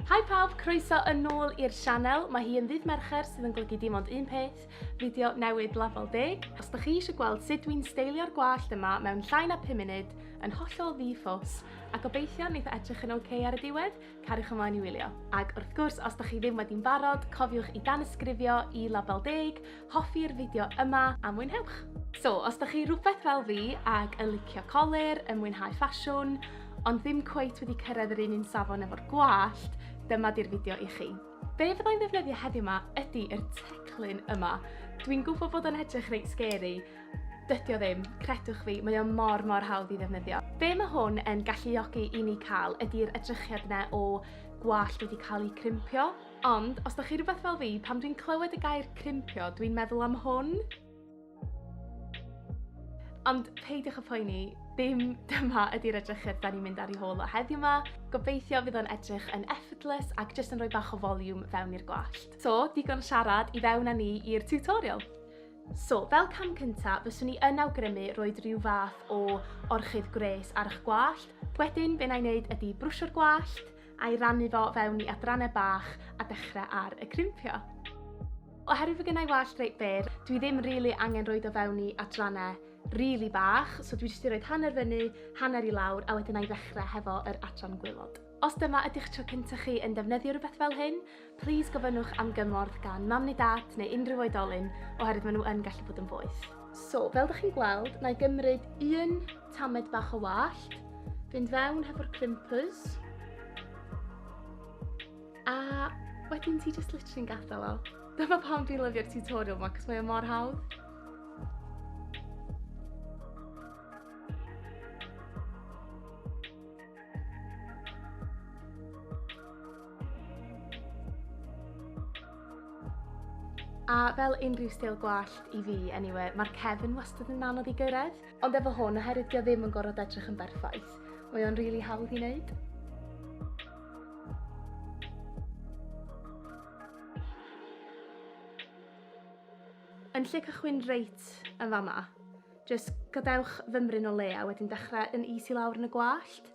Hi pawb, croeso yn ôl i'r sianel. Mae hi yn ddydd Mercher sydd yn golygu dim ond un peth, fideo newid lafol deg. Os da chi eisiau gweld sut dwi'n steilio'r gwallt yma mewn llai na 5 munud, yn hollol ddi-ffos, a gobeithio wneud edrych yn oce okay ar y diwedd, Cariwch ymlaen i wylio. Ac wrth gwrs, os da chi ddim wedi'n barod, cofiwch i danysgrifio i label deg, hoffi'r fideo yma a mwynhewch! So, os da chi rhywbeth fel fi ac yn licio colir, yn mwynhau ffasiwn, ond ddim cweit wedi cyrraedd yr un un safon efo'r gwallt, dyma di'r fideo i chi. Be fyddai'n ddefnyddio heddiw ma ydy yr teclyn yma. Dwi'n gwybod bod o'n edrych reit scary, dydio ddim, credwch fi, mae o mor mor hawdd i ddefnyddio. Be mae hwn yn galluogi i ni cael ydy'r edrychiad yna o gwallt wedi cael ei crimpio. Ond, os da chi rhywbeth fel fi, pan dwi'n clywed y gair crimpio, dwi'n meddwl am hwn. Ond peidiwch y poeni, dim dyma ydy'r edrychedd da ni'n mynd ar ei hôl o heddiw yma. Gobeithio fydd o'n edrych yn effortless ac jyst yn rhoi bach o volume fewn i'r gwallt. So, digon siarad i fewn â ni i'r tutorial. So, fel cam cyntaf, fyswn i yn awgrymu roed rhyw fath o orchudd gwres ar eich gwallt. Wedyn, be na i wneud ydy brwsio'r gwallt, a'i rannu fo fewn i adrannau bach a dechrau ar y crimpio. Oherwydd fy gynnau wallt reit byr, dwi ddim rili really angen roed o fewn i adrannau rili really bach, so dwi jyst i roed hanner fyny, hanner i lawr, a wedyn a'i ddechrau hefo yr adran gwylod. Os dyma ydych tro cyntaf chi yn defnyddio rhywbeth fel hyn, Plis gofynnwch am gymorth gan mam neu dad neu unrhyw oedolyn oherwydd maen nhw yn gallu bod yn boeth. So, fel ydych chi'n gweld, na i gymryd un tamed bach o wallt, fynd fewn hefo'r crimpers, a wedyn ti just literally'n gadael o. Dyma pam dwi'n lyfio'r tutorial yma, cos mae o mor hawdd. A fel unrhyw stil gwallt i fi, anyway, mae'r cefn wastad yn anodd i gyrraedd. Ond efo hwn, oherwydd dio ddim yn gorfod edrych yn berffaith, mae o'n rili really hawdd i wneud. Yn lle cychwyn reit yn fama, jyst gadewch fymryn o le a wedyn dechrau yn is i lawr yn y gwallt.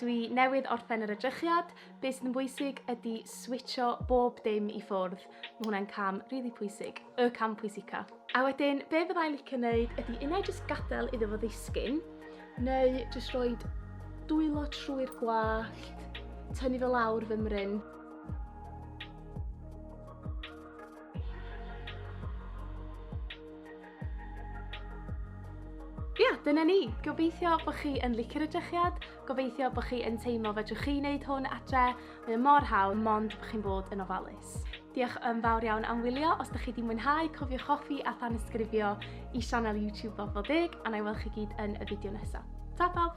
Dwi newydd orffen yr edrychiad, be sydd yn bwysig ydy switcho bob dim i ffwrdd. Mae hwnna'n cam rili really pwysig, y cam pwysica. A wedyn, be fydda i'n licio wneud ydy unau jyst gadael iddo fo ddisgyn, neu jyst rhoi dwylo trwy'r gwallt, tynnu fo lawr fy mryn. Ie, yeah, dyna ni. Gobeithio bod chi yn licio'r edrychiad, gobeithio bod chi yn teimlo fedrwch chi wneud hwn adre, mae mor hawdd, mond bod chi'n bod yn ofalus. Diolch yn fawr iawn am wylio, os ydych chi wedi mwynhau, cofiwch hoffi a than ysgrifio i sianel YouTube Bobl Deg, a na i weld chi gyd yn y fideo nesaf. Ta pawb!